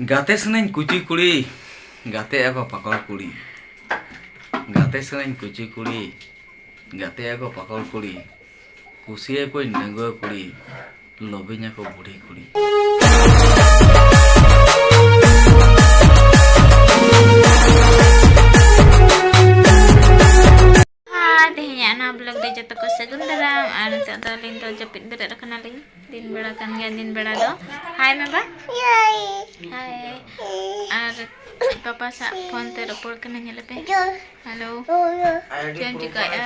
ᱜᱟᱛᱮ ᱥᱟᱱᱟᱹᱧ ᱠᱩᱪᱤ ᱠᱩᱲᱤ ᱜᱟᱛᱮ ᱟᱠᱚ ᱯᱟᱠᱚᱲ ᱠᱩᱲᱤ ᱜᱟᱛᱮ ᱥᱟᱱᱟᱹᱧ ᱠᱩᱪᱤ ᱠᱩᱲᱤ ᱜᱟᱛᱮ ᱟᱠᱚ ᱯᱟᱠᱚᱲ ᱠᱩᱲᱤ ᱠᱩᱥᱤᱭᱟᱠᱚᱧ ᱰᱟᱺᱜᱩᱣᱟᱹ ᱠᱩᱲᱤ ᱞᱚᱵᱤᱧ ᱟᱠᱚ ᱵᱩᱰᱷᱤ ᱠᱩᱲᱤ ᱦᱮᱸ ᱛᱮᱦᱮᱧᱟᱜ ᱱᱚᱣᱟ ᱵᱞᱚᱜ ᱫᱚ ᱡᱚᱛᱚ ᱠᱚ ᱥᱟᱹᱜᱩᱱ ᱫᱟᱨᱟᱢ ᱟᱨ ᱱᱤᱛᱚᱜ ᱫᱚ ᱟᱹᱞᱤᱧ ᱫᱚ ᱡᱟᱹᱯᱤᱫ ᱵᱮᱨᱮᱫ ᱟᱠᱟᱱᱟᱞᱤᱧ ᱫᱤᱱ ᱵᱮᱲᱟ ᱠᱟᱱ ᱜᱮᱭᱟ ᱫᱤᱱ ᱵᱮᱲᱟ ᱫᱚ ᱦᱟᱭ ᱢᱮ ᱵᱟ ᱦᱟᱭ ᱟᱨ ᱯᱟᱯᱟ ᱥᱟᱜ ᱯᱷᱳᱱ ᱛᱮ ᱨᱚᱯᱚᱲ ᱠᱟᱱᱟ ᱧᱮᱞ ᱯᱮ ᱦᱮᱞᱳ ᱪᱮᱫ ᱮᱢ ᱪᱤᱠᱟᱹᱭᱮᱫᱼᱟ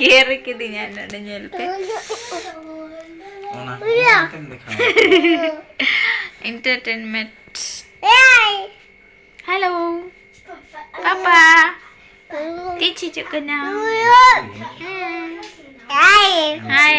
ᱜᱮᱨ ᱠᱤᱫᱤᱧᱟ ᱱᱚᱰᱮ ᱧᱮᱞ ᱯᱮ ᱚᱱᱟ ᱠᱚᱢ ᱫᱮᱠᱷᱟᱣ ᱮᱱᱴᱟᱨᱴᱮᱱᱢᱮᱱᱴ ᱦᱮᱞᱳ ᱯᱟᱯᱟ ᱛᱤᱡ ᱦᱤᱡᱩᱜ ᱠᱟᱱᱟ ᱦᱟᱭ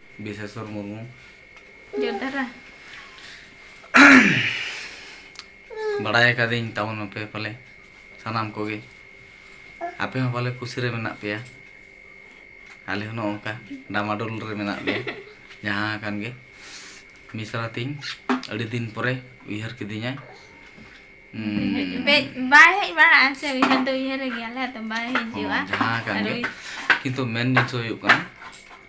ᱵᱤᱥᱮᱥᱚᱨ ᱢᱩᱨᱢᱩ ᱡᱳᱫᱷᱟᱨᱟ ᱵᱟᱲᱟᱭ ᱟᱠᱟᱫᱟᱹᱧ ᱛᱟᱵᱚᱱ ᱟᱯᱮ ᱯᱟᱞᱮ ᱥᱟᱱᱟᱢ ᱠᱚᱜᱮ ᱟᱯᱮ ᱦᱚᱸ ᱯᱟᱞᱮ ᱠᱩᱥᱤ ᱨᱮ ᱢᱮᱱᱟᱜ ᱯᱮᱭᱟ ᱟᱞᱮ ᱦᱚᱸ ᱱᱚᱝᱠᱟ ᱰᱟᱢᱟᱰᱳᱞ ᱨᱮ ᱢᱮᱱᱟᱜ ᱞᱮᱭᱟ ᱡᱟᱦᱟᱸ ᱟᱠᱟᱱ ᱜᱮ ᱢᱤᱥᱨᱟ ᱛᱤᱧ ᱟᱹᱰᱤ ᱫᱤᱱ ᱯᱚᱨᱮ ᱩᱭᱦᱟᱹᱨ ᱠᱤᱫᱤᱧᱟᱭ ᱵᱟᱭ ᱦᱮᱡ ᱵᱟᱲᱟᱜᱼᱟ ᱥᱮ ᱩᱭᱦᱟᱹᱨ ᱫᱚ ᱩᱭᱦᱟᱹᱨ ᱜᱮᱭᱟᱞᱮ ᱟᱫᱚ ᱵᱟᱭ ᱦᱤᱡᱩᱜᱼᱟ ᱡᱟᱦᱟᱸ ᱟᱠᱟᱱ ᱜᱮ ᱠᱤᱱᱛᱩ ᱢᱮᱱ ᱡᱤᱱᱤᱥ ᱦᱩᱭᱩᱜ ᱠᱟᱱᱟ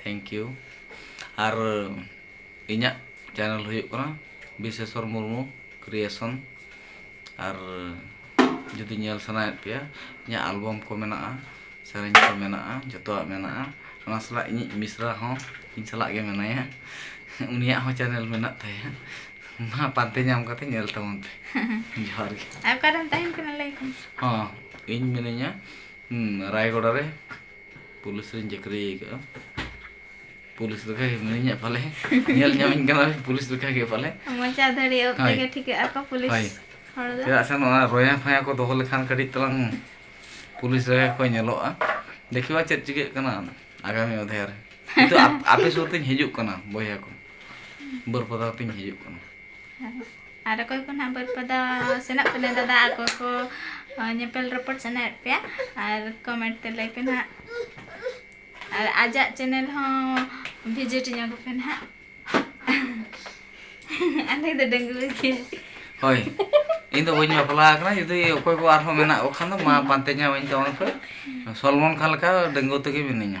ᱛᱷᱮᱝᱠ ᱤᱭᱩ ᱟᱨ ᱤᱧᱟᱹᱜ ᱪᱮᱱᱮᱞ ᱦᱩᱭᱩᱜ ᱠᱟᱱᱟ ᱵᱤᱥᱮᱥᱚᱨ ᱢᱩᱨᱢᱩ ᱠᱨᱤᱭᱮᱥᱚᱱ ᱟᱨ ᱡᱩᱫᱤ ᱧᱮᱞ ᱥᱟᱱᱟᱭᱮᱫ ᱯᱮᱭᱟ ᱤᱧᱟᱹᱜ ᱟᱞᱵᱟᱢ ᱠᱚ ᱢᱮᱱᱟᱜᱼᱟ ᱥᱮᱨᱮᱧ ᱠᱚ ᱢᱮᱱᱟᱜᱼᱟ ᱡᱚᱛᱚᱣᱟᱜ ᱢᱮᱱᱟᱜᱼᱟ ᱚᱱᱟ ᱥᱟᱞᱟᱜ ᱤᱧᱤᱡ ᱢᱤᱥᱨᱟ ᱦᱚᱸ ᱤᱧ ᱥᱟᱞᱟᱜ ᱜᱮ ᱢᱮᱱᱟᱭᱟ ᱩᱱᱤᱭᱟᱜ ᱦᱚᱸ ᱪᱮᱱᱮᱞ ᱢᱮᱱᱟᱜ ᱛᱟᱭᱟ ᱢᱟ ᱯᱟᱱᱛᱮ ᱧᱟᱢ ᱠᱟᱛᱮ ᱧᱮᱞ ᱛᱟᱵᱚᱱ ᱯᱮ ᱡᱚᱦᱟᱨ ᱜᱮ ᱟᱨ ᱚᱠᱟᱨᱮᱢ ᱛᱟᱦᱮᱱ ᱠᱟᱱᱟ ᱞᱟᱹᱭ ᱠᱚᱢ ᱦᱚᱸ ᱤᱧ ᱢᱤᱱᱟᱹᱧᱟ ᱨᱟᱭᱜᱚᱲᱟ ᱨᱮ ᱯᱩᱞᱤᱥ ᱨᱤᱧ ᱪᱟᱹᱠᱨᱤ ᱟᱠᱟᱫᱼᱟ ᱯᱩᱞᱤᱥ ᱞᱮᱠᱟ ᱜᱮ ᱢᱤᱱᱟᱹᱧ ᱦᱟᱸᱜ ᱯᱟᱞᱮ ᱧᱮᱞ ᱧᱟᱢᱤᱧ ᱠᱟᱱᱟ ᱯᱩᱞᱤᱥ ᱞᱮᱠᱟ ᱜᱮ ᱯᱟᱞᱮ ᱢᱚᱪᱟ ᱫᱷᱟᱹᱨᱤ ᱚᱠᱛᱮ ᱦᱳᱭ᱾ ᱜᱮ ᱴᱷᱤᱠᱟᱹᱜ ᱟᱠᱚ ᱦᱳᱭ ᱯᱩᱞᱤᱥ ᱦᱚᱲ ᱫᱚ ᱪᱮᱫᱟᱜ ᱥᱮ ᱱᱚᱣᱟ ᱨᱚᱭᱟ ᱯᱷᱚᱭᱟ ᱠᱚ ᱫᱚᱦᱚ ᱞᱮᱠᱷᱟᱱ ᱠᱟᱹᱴᱤᱡ ᱛᱟᱞᱟᱝ ᱯᱩᱞᱤᱥ ᱨᱮ ᱠᱚ ᱧᱮᱞᱚᱜᱼᱟ ᱫᱮᱠᱷᱤᱣᱟ ᱪᱮᱫ ᱪᱤᱠᱟᱹᱜ ᱠᱟᱱᱟ ᱟᱜᱟᱢᱤ ᱚᱫᱷᱮᱭᱟ ᱨᱮ ᱠᱤᱱᱛᱩ ᱟᱯ- ᱟᱯᱮ ᱥᱩᱨ ᱛᱤᱧ ᱦᱤᱡᱩᱜ ᱠᱟᱱᱟ ᱵᱚᱭᱦᱟ ᱠᱚ ᱵᱟᱹᱨᱯᱟᱫᱟ ᱛᱤᱧ ᱦᱤᱡᱩᱜ ᱠᱟᱱᱟ ᱟᱨ ᱚᱠᱚᱭ ᱠᱚ ᱱᱟᱦᱟᱜ ᱵᱟᱹᱨᱯᱟᱫᱟ ᱥᱮᱱᱚᱜ ᱠᱟᱱᱟ ᱫᱟᱫᱟ ᱟᱨ ᱚᱠᱚᱭ ᱠᱚ ᱧᱮᱯᱮᱞ ᱨᱚᱯᱚᱲ ᱥᱟᱱᱟᱭᱮᱫ ᱯᱮᱭᱟ ᱟᱨ ᱠᱚᱢᱮᱱᱴ ᱛᱮ ᱞᱟᱹᱭ ᱯᱮ ᱱᱟᱦᱟᱜ ᱟᱨ ᱟᱡᱟᱜ ᱪᱮᱱᱮᱞ ᱦᱚᱸ ᱵᱷᱤᱡᱤᱴ ᱧᱚᱜ ᱯᱮ ᱱᱟᱦᱟᱜ ᱟᱞᱮ ᱫᱚ ᱰᱟᱺᱜᱩᱣᱟᱹ ᱜᱮ ᱦᱳᱭ ᱤᱧ ᱫᱚ ᱵᱟᱹᱧ ᱵᱟᱯᱞᱟ ᱟᱠᱟᱱᱟ ᱡᱩᱫᱤ ᱚᱠᱚᱭ ᱠᱚ ᱟᱨᱦᱚᱸ ᱢᱮᱱᱟᱜ ᱠᱚ ᱠᱷᱟᱱ ᱫᱚ ᱢᱟ ᱯᱟᱱᱛᱮ ᱧᱟᱢᱟᱹᱧ ᱛᱟᱵᱚᱱ ᱯᱮ ᱥᱚᱞᱢᱚᱱ ᱠᱷᱟᱱ ᱞᱮᱠᱟ ᱰᱟᱺᱜᱩᱣᱟᱹ ᱛᱮᱜᱮ ᱢᱤᱱᱟᱹᱧᱟ